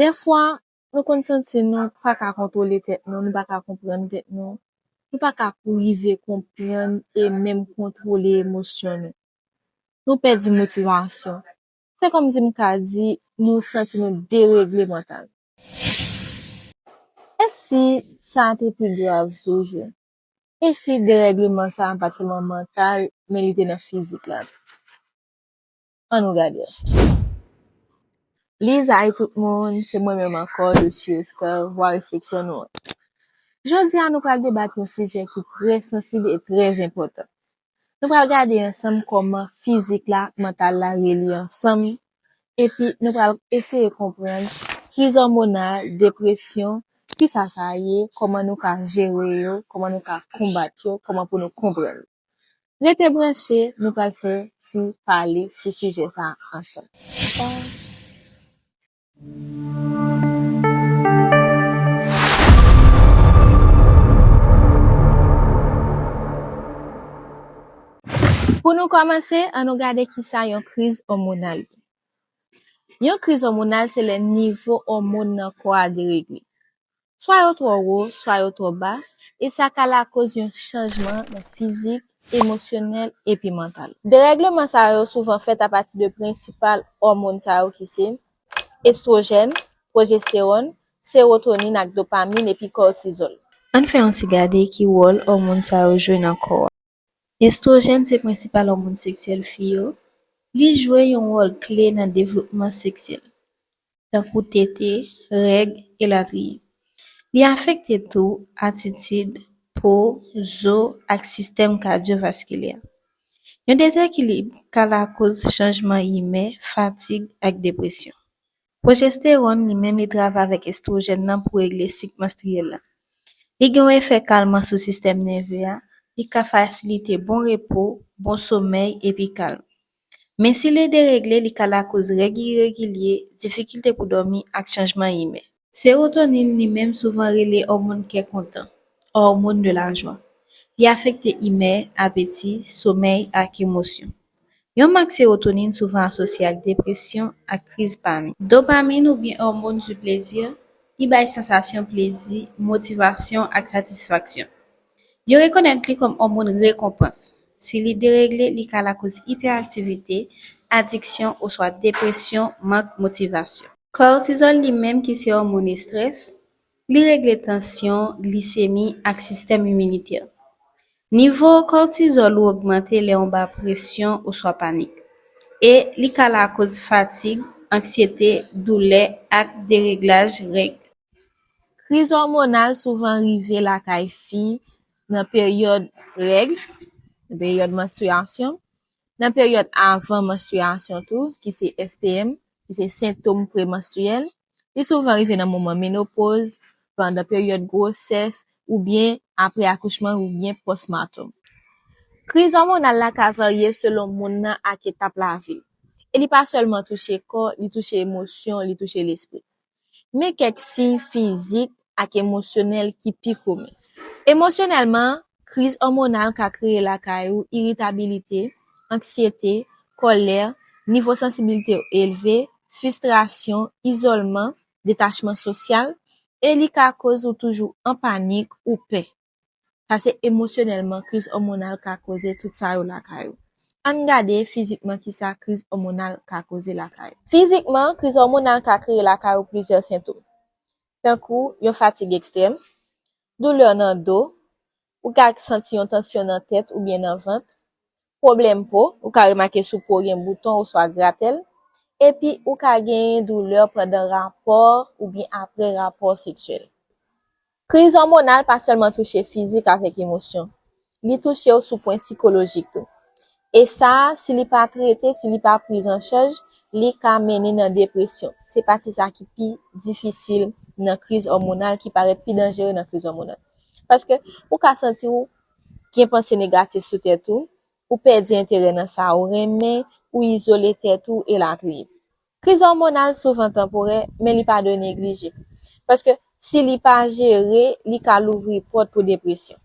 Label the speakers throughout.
Speaker 1: Dèfwa, nou konn santi nou pa ka kontwole tèt nou, nou pa ka konprann tèt nou, nou pa ka rive konprann e menm kontwole emosyon nou. Nou pèdi motivasyon. Se kòmsi m ka di nou santi nou deregle mantalman. E si sa a te pi grav toujou? E si deregleman sa a pa t sèlman mantal, men li te nan fizik la tou? An nou gade ansanm. Please Hi tout moun, se mwen menm ankò Doshie Esther, vwa refleksyon nou an. Jodi a nou pral debat yon sijè ki trè sansib e trè enpòtan. Nou pral gade ansanm kòman fizik la ak mantal la relye ansanm epi nou pral eseye konprann kriz òmonal, depresyon, kisa sa ye, kòman nou ka jere yo, kòman nou ka konbat yo, kòman pou nou konprann yo. Rete branche nou pral fè ti pale sou sijè sa ansanm. Pou nou kòmanse an nou gade kisa yon kriz òmonal ye. Yon kriz òmonal se lè nivo òmon nan kò a deregle. swa yo twò wo, swa yo twò ba, e sa ka lakoz yon chanjman nan fizik, emosyonèl, epi mantal. Derègleman sa yo souvan fèt apati de prensipal òmon sa yo ki se, estwojèn, pwojestewòn, sewotonin ak dopamin epi kòtizòl. Ann fè yon ti gade ki wòl òmon sa yo jwe nan kò a. Estwojèn se prensipal òmon seksyèl fi yo, li jwe yon wòl kle nan devlopman seksyèl, tankou tete, règ, elatriye. Li afekte tou atitid, po, zo, ak sistèm kadyovaskilè. Yon dezekilib ka lakoz chanjman imè, fatig, ak depresyon. Pwojestewòn li menm li travay avèk estwojèn nan pou regle sik manstriyèl la. Li gen yon efè kalman sou sistèm nève a, li ka fasilite bon repo, bon somèy epi kalm. Men si li deregle li ka lakoz règ iregilye, difikilte pou dòmi ak chanjman imè. Sewotonin li menm souvan rele òmon kè kontan, hormone de la joie. Li afekte imè, apeti, somèy ak emosyon. Yon mank sewotonin souvan asosye ak depresyon ak kriz panik. Dopamin oubyen òmon di plezi ki bay sansasyon plezi, motivasyon ak satisfaksyon. Yo rekonèt li kòm òmon rekonpans. Si li deregle li ka lakoz ipèaktivite, adiksyon oswa depresyon, mank motivasyon. Kòtizòl li menm ki se òmon estrès, Li regle tansyon, glisemi, ak sistèm iminitè. Nivo kòtizòl ou ogmante lè ou ba presyon oswa panik, e li ka lakoz fatig, anksyete, doulè, ak dereglaj règ. Kriz òmonal souvan rive lakay fi nan peryòd règ, peryòd manstriyasyon, Nan peryòd avan manstriyasyon tou, ki se SPM, ki se sentom premanstriyèl, li souvan rive nan moman menopoz, pandan peryòd gwosès, oubyen apre akouchman oubyen pòsmatom. Kriz òmonal la ka varye selon moun nan ak etap lavi l, e li pa sèlman touche kò, li touche emosyon, li touche lespri. Men kèk siy fizik ak emosyonèl ki pi komen. Emosyonèlman, kriz òmonal ka kreye lakay ou iritabilite, anksyete, kòlè, nivo sansibilite ou elve, fistrasyon, izolman, detachman sosyal, e li ka koz ou toujou an panik ou pè. pase emosyonèlman kriz òmonal ka koze tout sa yo lakay ou. Ann gade fizikman kisa kriz òmonal ka koze lakay ou. Fizikman, kriz òmonal ka kreye lakay ou plizyè sentom, tankou yon fatig ekstrèm, doulè nan do, ou ka santi yon tansyon nan tèt oubyen nan vant, Pwoblèm po, ou ka remake sou po w gen bouton oswa gratèl, epi ou ka genyen doulè pandan rapò oubyen apre rapò seksyèl. Kriz òmonal pa sèlman touche fizik avèk emosyon, li touche w sou pwen sikolojik tou. E sa a, si li pa trete, si li pa priz an chaj, li ka mennen nan depresyon. Se pati sa ki pi difisil nan kriz òmonal, ki parèt pi danjere nan kriz òmonal. Paske ou ka santi w gen panse negatif sou tèt ou, ou pèdi enterè nan sa ou renmen, ou izole tèt ou, elatriye. Kriz òmonal souvan tanporè, men li pa dwe neglije, paske si li pa jere, li ka louvri pòt pou depresyon.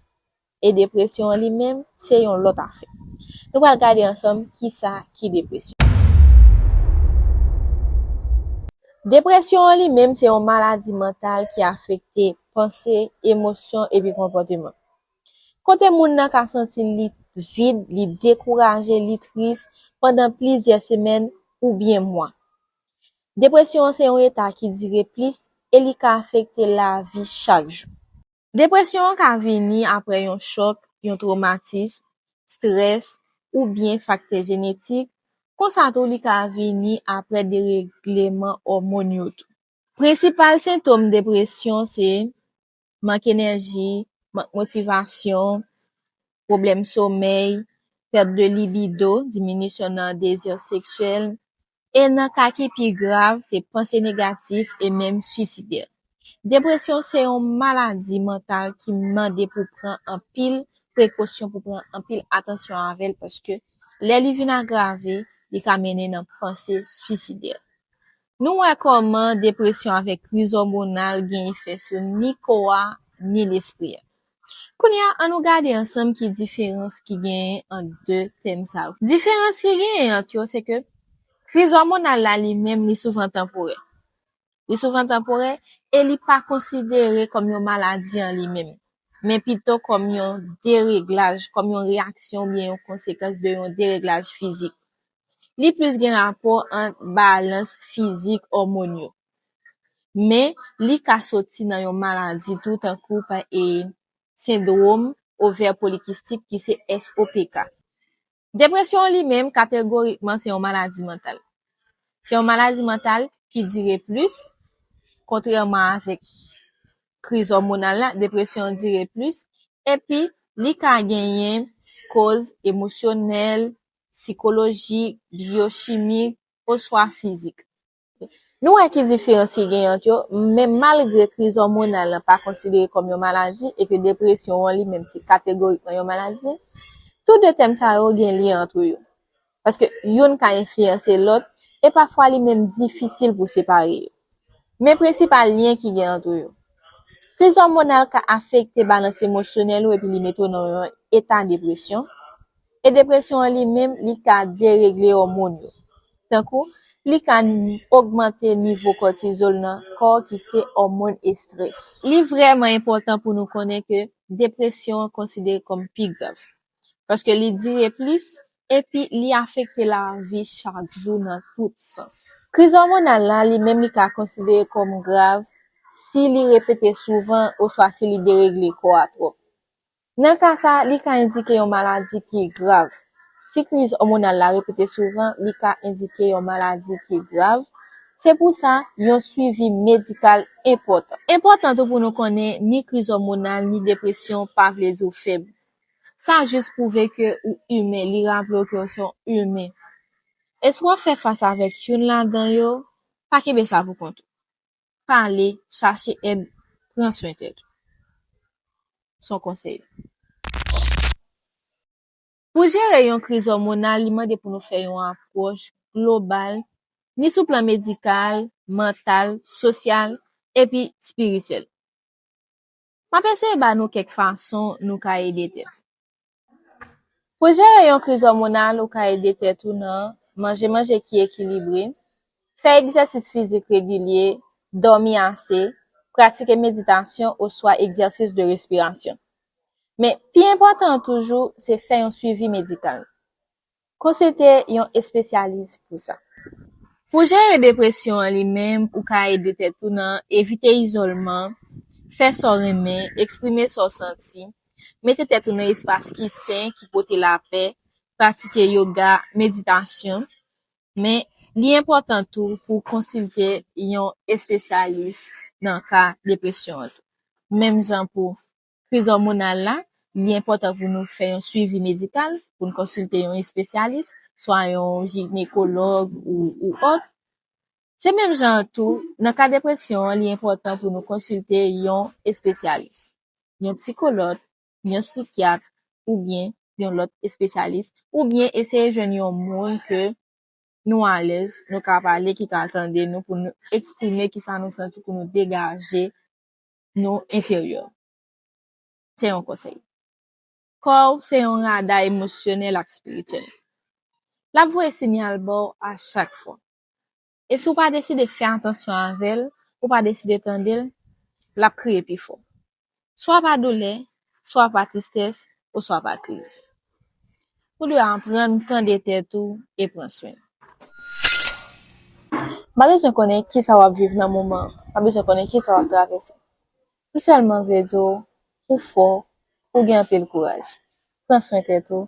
Speaker 1: E depresyon an li menm, se yon lòt afè. Nou pral gade ansanm ki sa ki depresyon. Depresyon an li menm se yon maladi mantal ki afekte panse, emosyon epi konpòteman. Kote moun nan ka santi l li vid, li dekouraje, li tris pandan plizyè semèn oubyen mwa. Depresyon an se yon eta ki dire plis e li ka afekte lavi chak jou. Depresyon an ka vini apre yon chòk, yon twomatism, strès, oubyen faktè jenetik, konsa tou li ka vini apre deregleman òmòn yo tou. Prensipal sentom depresyon se, mank enèji, mank motivasyon, pwoblèm somèy, pèt de libido, diminisyon nan dezi seksyèl, e nan ka ki pi grav, se panse negatif e menm suisidè. Depresyon se yon maladi mantal ki mande pou pran anpil prekosyon, pou pran anpil atansyon avè l paske lè li vin agrave, li ka mennen nan panse suisidè. Nou wè kòman depresyon avèk kriz òmonal gen efè sou ni kò a ni lespri a. Kounye a, annou gade ansanm ki diferans ki genyen ant de tèm sa yo. Diferans ki genyen ant yo se ke kriz òmonal la li menm li souvan tanporè. Li souvan tanporè e li pa konsidere kòm yon maladi an li menm, men pito kòm yon dereglaj, kòm yon reyaksyon oubyen yon konsekans de yon dereglaj fizik. Li plis gen rapò ant balans fizik òmòn yo. Men, li ka soti nan yon maladi tou tankou pa e Sendwom Ovè Polikistik ki se SOPK. Depresyon an li menm kategorikman se yon maladi mantal. Se yon maladi mantal ki dire plis, kontrèman avèk kriz òmonal la, depresyon an dire plis epi li ka genyen koz emosyonèl, sikoloji, byochimi, oswa fizik. Nou wè ki diferans ki genyen ant yo, men malgre kriz òmonal lan pa konsidere kòm yon maladi e ke depresyon an limenm se kategorikman yon maladi, tou de tèm sa yo gen lyen antre yo, paske youn ka enfliyanse lòt e pafwa li menm difisil pou separe yo. Men prensipal lyen ki gen antre yo. Kriz òmonal ka afekte balans emosyonèl ou epi li mete w nan yon eta depresyon, e depresyon an li menm li ka deregle òmon yo, tankou li ka ogmante nivo kòtizòl nan kò ki se òmon estrès. Li vrèman enpòtan pou nou konnen ke depresyon an konsidere kòm pi grav. paske li dire plis epi li afekte lavi chak jou nan tout sans. Kriz òmonal la li menm li ka konsidere kòm grav si li repete souvan oswa si li deregle kò a twòp. Nan ka sa, li ka endike yon maladi ki grav. Si kriz òmonal la repete souvan, li ka endike yon maladi ki grav, se pou sa yon swivi medikal enpòtan. Enpòtan tou pou nou konnen ni kriz òmonal ni depresyon pa vle di ou fèb. Sa jis pwouve ke ou imen, li raple w ke ou se yon imen. E si w ap fè fas avèk youn ladan yo, pa kenbe sa pou kont ou. Pale, chache èd, pran swen tèt ou. Se yon konsèy. Pou jere yon kriz òmonal, li mande pou nou fè yon apwòch global, ni sou plan medikal, mantal, sosyal, epi spirityèl. M ap eseye ba nou kèk fason nou ka ede tèt nou. Pou jere yon kriz òmonal ou ka ede tèt ou nan, manje manje ki ekilibre, fè egzèsis fizik regilye, dòmi ase, pratike meditasyon oswa egzèsis de respirasyon. Men, pi enpòtan an toujou, se fè yon swivi medikal. Konsilte yon espesyalis pou sa. Pou jere depresyon an li menm ou ka ede tèt ou nan evite izolman, fè sa w renmen, eksprime sa w santi, mete tèt ou nan espas ki sen, ki pote lapè, pratike yoga, meditasyon. Men, li enpòtan tou pou w konsilte yon espesyalis nan ka depresyon an tou. Menm jan pou kriz òmonal la, li enpòtan pou nou fè yon suivi medikal, pou n konsilte yon espesyalis, swa yon jinekològ ou ot. Se menm jan an tou, nan ka depresyon an, li enpòtan pou nou konsilte yon espesyalis, yon psikolòt, yon sikyat oubyen yon lòt espesyalis, oubyen eseye jwenn yon moun ke nou alèz, nou ka pale, ki ka tande nou pou nou eksprime kisa nou santi, pou nou degaje nou enferyè. Se yon konsèy. Kò w se yon rada emosyonèl ak espirityèl. L ap voye sinyal ba w a chak fwa. E si w pa deside fè atansyon avè l, ou pa deside tande l, l ap kriye pi fò. Swa pa doulè, swa pa tristès oswa pa kriz. Ou dwe aprann tande tèt ou e pran swen ou. M pa bezwen konnen kisa w ap viv nan moman an, m pa bezwen konnen kisa w ap travèse. M sèlman vle di w ou fò, ou gen anpil kouraj. Pran swen tèt ou